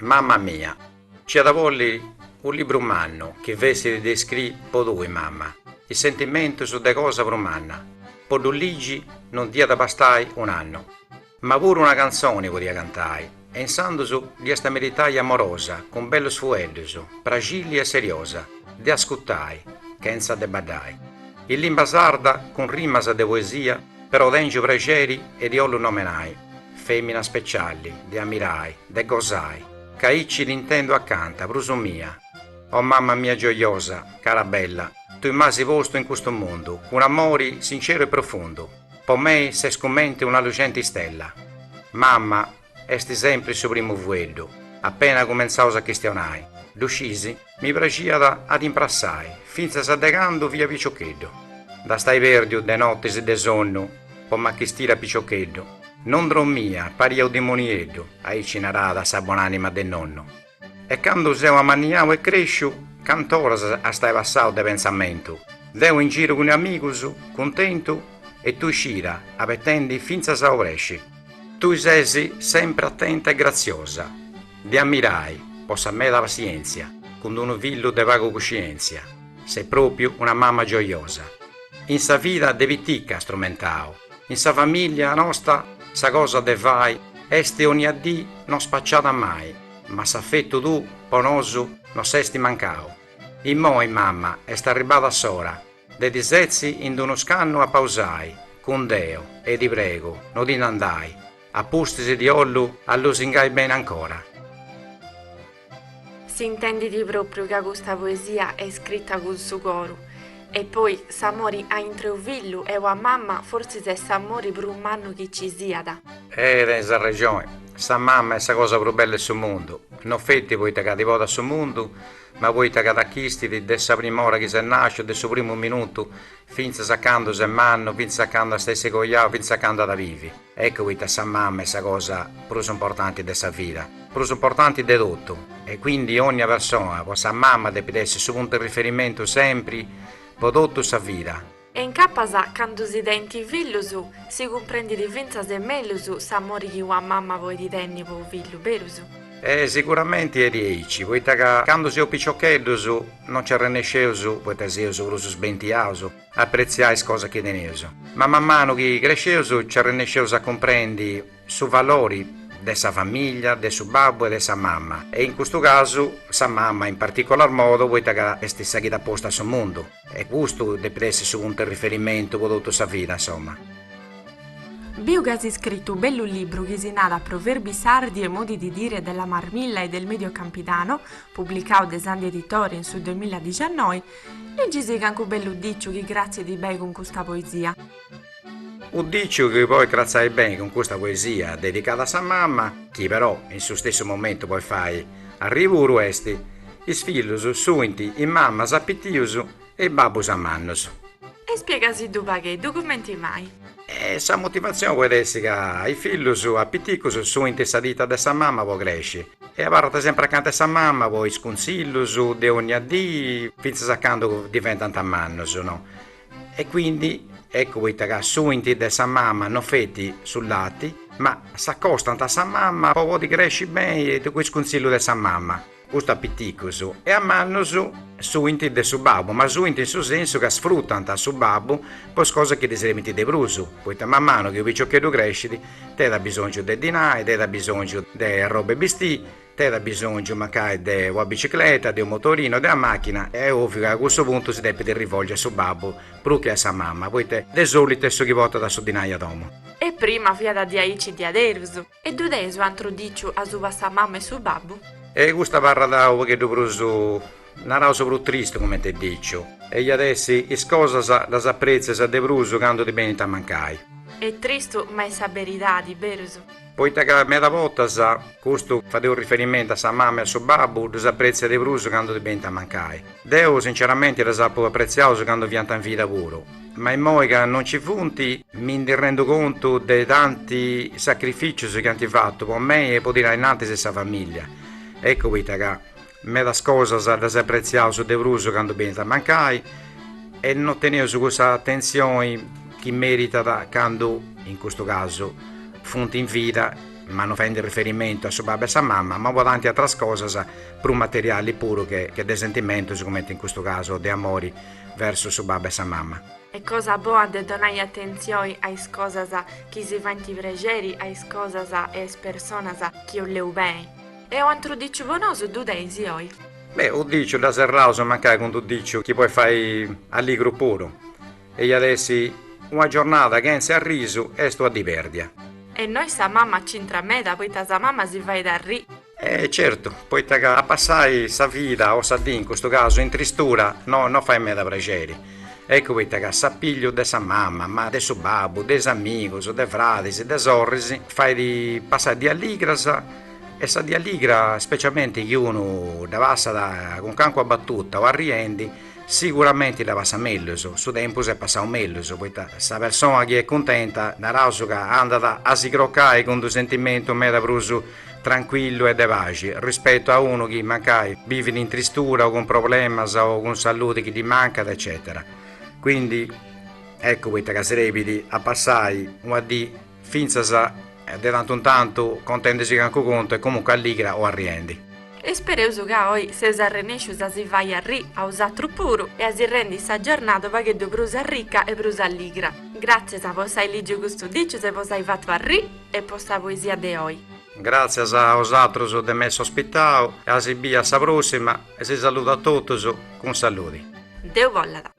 Mamma mia. Ci iat a bolli u libru mannu chi fessit de iscri po tui mamma, is sentimentus de cosa prus manna. Po ddu ligi non diat bastai un'annu, ma puru una cantzoni podia cantai, e insandus dd'iast meritai amorosa cun bellus fueddus, praxilli e seriosa, de ascutai, chentza de baddai. In limba sarda cun rimas de poesia però tengiu prexeri e ti ollu nomenai. Femina specialli, de ammirai, de gosai, ca aici t'intendu accanta, prus mia. O mamma mia gioiosa, cara bella, tui m'asi postu in custu mundu, cun amori sinceru e profundu, po mei ses cumenti una lucenti stella. Mamma, esti sempri su primu fueddu, appena cumentzaus a chistionai, ddu scisi? Mi praxiat a ti imprassai, fintzas de candu fia piciocheddu. Nd'astai pèrdiu de notis de sonnu po m'achistiri a piciocheddu, non drommia, paria u dimonieddu, aici narat sa bon'anima de nonnu. E candu seu amanniau e cresciu, cant'oras astai passau de pentzamentu, deu in giru cun amigus, cuntentu, e tui scira, abetendi fintzas a obresci. Tui ses sempri atenta e graziosa, De ammirai, po sa meda passientzia, cun d-unu fillu de pagu cuscientzia, ses propriu una mamma gioiosa. In sa vida de piticca as trumentau, in sa famiglia nosta sa cosa de fai esti onnia dì no spacciada mai, ma s'affettu tuu po nosu no s'esti mancau. Immoi mamma est arribbada s'ora de ti setzi in d-unu scannu a pausai cun Deus e ti pregu no ti nd'andai, A pustis ti ollu lusingai beni ancora. Si intendit propriu ca custa poesia est scritta cun su coru. E poi, s'amori a intre u fillu e ua mamma forsis est s'amori prus mannu chi ci siat. E tenis arrexoni, sa mamma est sa cosa prus bella 'e su mundu, no feti poita ca ti portat a su mundu, ma poita ca t'achistit de sa prima ora chi ses nàsciu, de su primu minutu fintzas a candu ses mannu, fintzas a candu ast a essi coiau, fintzas a candu at a bivi. Ecco poita sa mama est sa cosa prus importanti de sa vida, prus importanti de totu, e quindi onnia persona po sa mama depit essi su puntu 'e riferimentu sempri po totu sa vida. E incapas candu si tenint fillus si cumprendit fintzas mellus s'amori chi una mama podit tenni po unu fillu, berus? E sicuramenti est diaici, poita ca candu seus piciocheddus non nci arrennesceus, poita seus prus sbentiaus, a pretziai is cosas chi teneus, ma manu manu chi cresceus nci arrennesceus a cumprendi su valori de sa famìllia, de su babbu e de sa mama, e in custu casu sa mama in particolar modu poita ca est sa chi t'at postu a su mundu e custu depit essi su puntu 'e riferimentu po totu sa vida insoma. Biu chi as iscritu u bellu libru chi si nat Proverbi sardi e modi di dire della marmilla e del medio campidano, publicau de Sandi Editore in su duemilla diciannoi, Legisi cancu bellu diciu chi cratzidi beni cun custa poesia. U diciu chi poit cratzai beni cun custa poesia dedicada a sa mama, chi però in su stessu momentu poit fai arrivuru est, Is fillus sunt is mamas a piticus e is babbus a mannus. E spiegasiddu pagheddu cumenti mai. E sa motivatzioni poit essi ca is fillus a piticus sunt a sa tita de sa mama po cresci, e abarrant sempri acanta 'e sa mama po is cunzillus de onnia dì fintzas a candu diventant mannus no e quindi eccu poita ca suint de sa mama no feti su lati ma s'accostant a sa mama po podi cresci beni e cun is cunzillus de sa mama custu a piticus e a mannus suint de su babbu ma suint in su sensu ca sfrutant su babbu po is cosas chi ddi serbint de prus poita man manu chi su piciocheddu crescit Teit abisòngiu de dinai, teit abisòngiu de arroba 'e bistì, teit abisòngiu mancai de ua bicicleta, de unu motorino, de ua machina, e est oviu ca a cussu puntu si depit rivolgi a su babbu prus che a sa mamma, poita de solitu est su chi portat su dinai a domu. E prima fiat diaici diaderus, e ddu teis u antru diciu asuba 'e sa mamma e su babbu. E custu abarrat unu pagheddu prus Naraus prus tristu comente 'e diciu. Eja at essi, is cosas ddas apretzias de prus candu ti benint a mancai. Est tristu ma est sa beridadi, diaderus. Poita ca meda bortas, custu fadeu riferimentu a sa mama e a su babbu, ddus apretzia de prus candu ti benint a mancai. Deu sinceramenti ddus apu apretziaus candu fiant in vida puru, ma immoi ca non nci funt, mi ndi rendu contu de tanti sacrificius chi ant fatu po mei e po tirai innantis sa familia. Eccu poita ca Medas cosas ddas apretziaus de prus candu benint a mancai e no teneus cussa atentzioni chi meritat candu, in custu casu, funt in vida, ma no faendi riferimentu a su babbu e a sa mama, ma po tanti atras cosas prus materiali puru che de sentimentus cumenti in custu casu de amori versus su babbu e sa mama. Est cosa boa de donai atentzioni a is cosas chi si faint prexeri a is cosas e a is personas chi oleus beni. E u'antru diciu no nosi ddu teneis oi? Beh, u diciu dda serraus mancai cun d'u diciu chi pois fai alligru puru. E iat essi una giornada chentzi arrisu est una dì pèrdia. E innoi sa mama c'intrat meda poita sa mama si fait arri. E certu, poita ca passai sa vida o sa dì in custu casu in tristura no no fait meda praxeri. Eccu poita ca s'appigliu de sa mama, ma de su babbu, de is amigus, de fradis, de sorris, fait passai dìs alligras. E sa dì alligra specialmenti chi unu dda passat cun cancuna batuta o arriendi, siguramenti dda passat mellus, su tempus est passau mellus, poita sa persona chi est cuntenta naraus ca andat a si crocai cun d'unu sentimentu meda prus trancuillu e de paxi, rispetu a unu chi mancai bivit in tristura o cun problemas o cun saludi chi ddi mancat eccetera. Quindi eccu poita ca si serbit a passai una dì fintzas de tantu in tantu contendisì cancu contu e comunque alligra o arriendi. Ispereus ca oi seus arrennescius a si fai arri a osatrus puru e a si rendi sa giornada u pagheddu prus arrica e prus alligra. Gràtzias po s'ai lìgiu custus dicius e po s'ai fatu arri e po sa poesia de oi. Gràtzias a osatrus de m'essi ospitau e a si biri a sa pròssima e si saludu a totus cun saludi. Deu bollat.